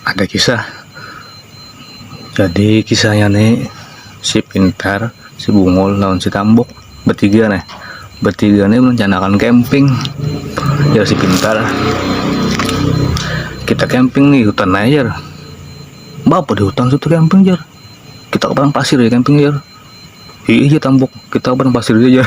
ada kisah jadi kisahnya nih si pintar si bungul lawan si tambok bertiga nih bertiga nih merencanakan camping ya si pintar kita camping nih hutan aja bapak di hutan situ camping jar kita ke padang pasir ya camping jar iya tambok kita ke padang pasir aja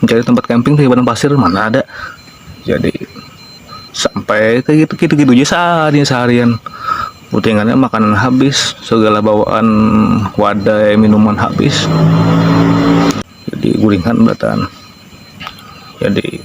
mencari tempat camping di padang pasir mana ada jadi sampai kayak gitu gitu gitu aja sehari seharian putingannya makanan habis segala bawaan wadah minuman habis jadi guringan belatan jadi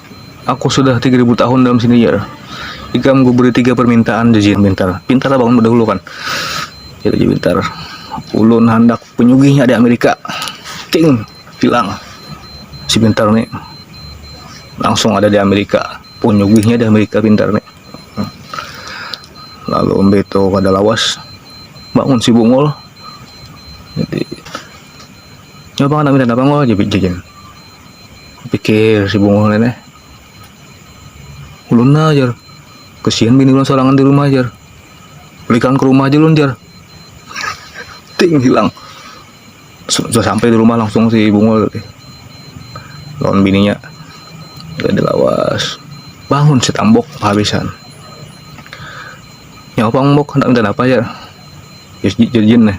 Aku sudah tiga ribu tahun dalam sini jar. Ikam kuberi tiga permintaan jajin pintar. Pintar bangun berdahulu kan. Jadi jajin pintar. Ulun handak penyugihnya di Amerika. Ting, bilang. Si pintar ni. Langsung ada di Amerika. Penyugihnya di Amerika pintar ni. Lalu beto kada lawas. Bangun si bungul. Jadi. Nyoba anak minta apa ngol jajin. pikir si bungul nenek ulun nah jar kesian bini ulun sorangan di rumah jar belikan ke rumah aja ulun jar ting hilang sudah sampai di rumah langsung si bungul lawan bininya udah dilawas bangun si tambok habisan nyawa pang bok hendak minta apa jar jadi jin nih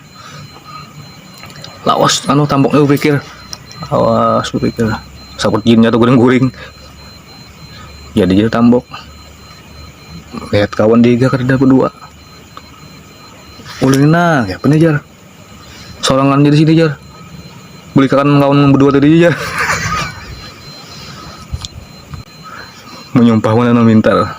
lawas anu tamboknya pikir lawas pikir sakut jinnya tuh guring-guring jadi ya, jadi tambok lihat kawan dia kerja berdua ulin nah ya punya jar sorangan jadi sini jar beli kawan kawan berdua tadi jar menyumpah mana minta